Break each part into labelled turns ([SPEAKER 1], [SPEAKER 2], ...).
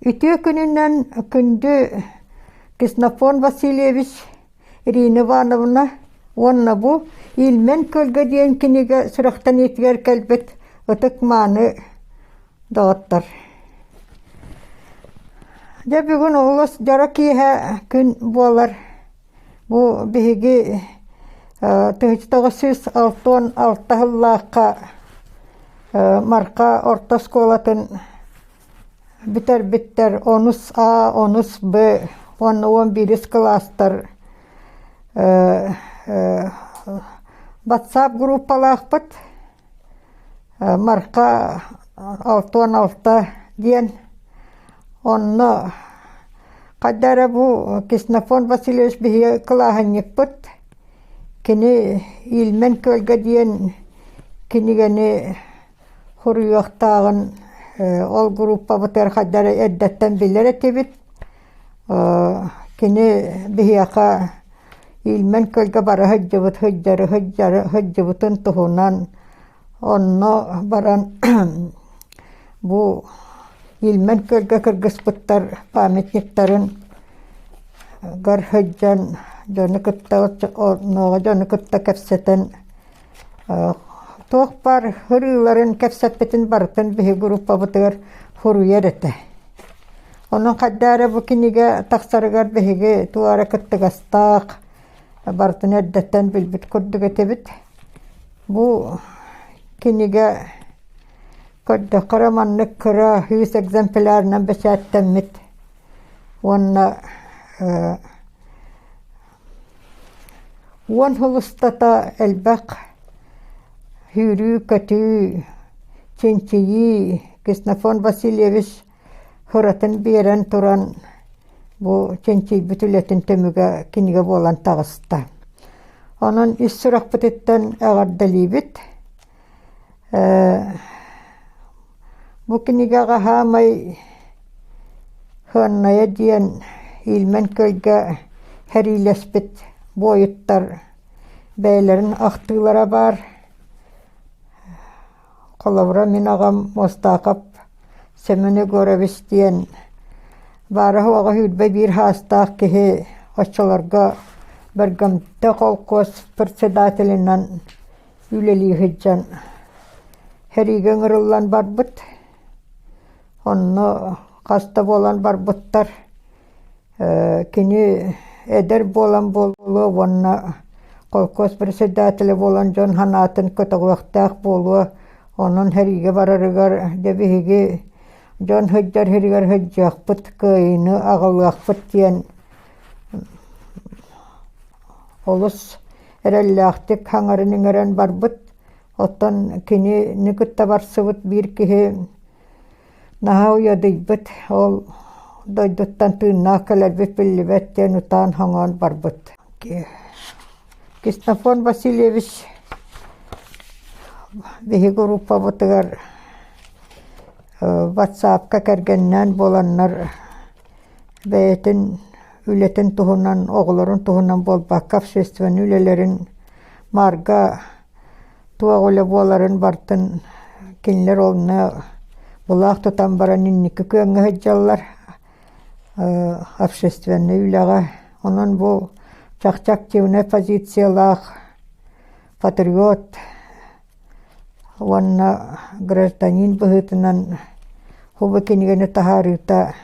[SPEAKER 1] Үтүө күнүнэн күндү Ксенофонт Васильевич Ирина Ивановна уонна бу «Ильмень күөлгэ» диэн кинигэ сүрэхтэниитигэр кэлбит ытык-мааны доҕоттор! Дьэ бүгүн олус дьоро киэһэ күн буолар. Бу биһиги тыһыынча тоҕус сүүс алтан алта сыллаахха Марха орто оскуолатын Бүтэрбиттэр онус А, онус Б уонна уон биирис кылаастар батсаап группалаахпыт Марха алта уон алта диэн онно хайда эрэ бу Ксенофонт Васильевич биһиги кылааһынньыкпыт кини Ильмен Көлгө диэн кинигэни Хуруйуохтааҕын ол группабытыгар хайдары эрдэттэн билэр этибит. Кини биһиэхэ иилмэн көлгө бара сылдьыбыт сылдьары сылдьары сылдьыбытын туһунан онно баран бу иилмэн көлгө кыргыспыттар памятниктарыгар сылдьан дьону кытта оннооҕу дьону кытта кэпсэтэн Туохпар ырыыларын кэпсэппитин барытын биһи группабытыгар суруйар этэ. Онон хайдаа эрэ бу кинигэ тахсарыгар биһиги туох эрэ кыттыгастаах, барытын эрдэттэн билбит курдук этибит. Бу кинигэ көрдөххө эрэ маннык кыра сүүс экземплярынан бэчээттэммит уонна Уон сыл устата элбэх сүүрүү-көтүү, чинчийии Ксенофонт Васильевич ыратын биэрэн туран бу чинчийбит үлэтин түмүгэ кинигэ буолан таҕыста. Онон ис сурахпытыттан эҕэрдэлиибит! Бу кинигэҕэ хаамай Хыаннайа диэн иилмэн кыайга сэриилэспит буойуттар бэйэлэрин ахтыылара баар. Холобура, мин аҕам Мостаахап Семен Егорович диэн баара-суоҕа сүүрбэ биир саастаах киһи оччолорго Бергамоте холкуос председателинэн үлэлии сылдьан сэриигэ ыҥырыллан барбыт. Онно хас да буолан барбыттар. Кини эдэр буолан буолуо уонна холкуос председателэ буолан дьон санаатын көтөҕүөхтээх буолуо. Онон сэриигэ барарыгар дьэ биһиги дьон сылдьар сиригэр сылдьыахпыт, кыайыыны аҕалыахпыт диэн олус эрэллээхтик хаҥаран иҥэрэн барбыт. Оттон кинини кытта барсыбыт биир киһи наһаа уйадыйбыт. Ол дойдуттан тыыннаах кэлэрбит биллибэт диэн утаан хоҥоон барбыт. Кистофон Васильевич биһиги группабытыгар э, ватсапка кэргэннээн буоланнар бэйэтин үлэтин туһунан оҕолорун туһунан буолбакка общественнай үлэлэрин маарга туох үлэ буоларын бартын кинилэр онно булаах тутан баран инники күөҥҥэ сылдьаллар общественнай үлэҕэ онон бу чахчы активнай позициялаах патриот уонна гражданин быһыытынан бу кинигэни таһаарыыта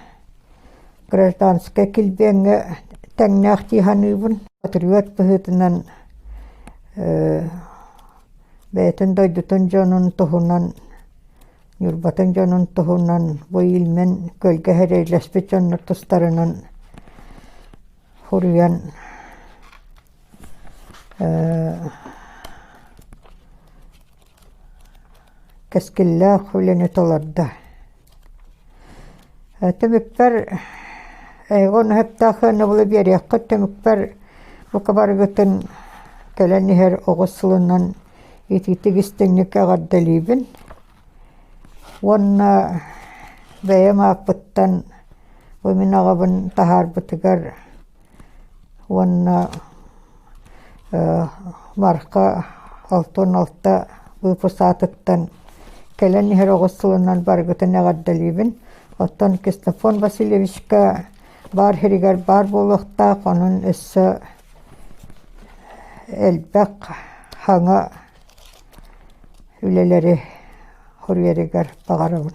[SPEAKER 1] гражданскай килбиэҥҥэ тэҥнээх дии саныыбын патриот быһыытынан бэйэтин дойдутун дьонун туһунан ньурбатын дьонун туһунан бу илмен көлгө эрэйлэспит дьоннор тустарынан суруйан кэскиллээх үлэни толордо. Түмүкпэр эйгэ унаһыттаах ыанабылы биэриэххэ түмүкпэр бука барыгытын кэлэн иһэр оҕус сылынан итиитик истиҥник эҕэрдэлиибин. Уонна бэйэм ааппыттан бу мин аҕабын таһаарбытыгар уонна Марха алта уон алта выпуск аатыттан кэлэн иһэр оҕус сылынан барыгытын эҕэрдэлиибин. Оттон Ксенофонт Васильевичка баар сиригэр баар буолуохтаах, онон өссө элбэх хаҥа үлэлэри хоруйарыгар баҕарабын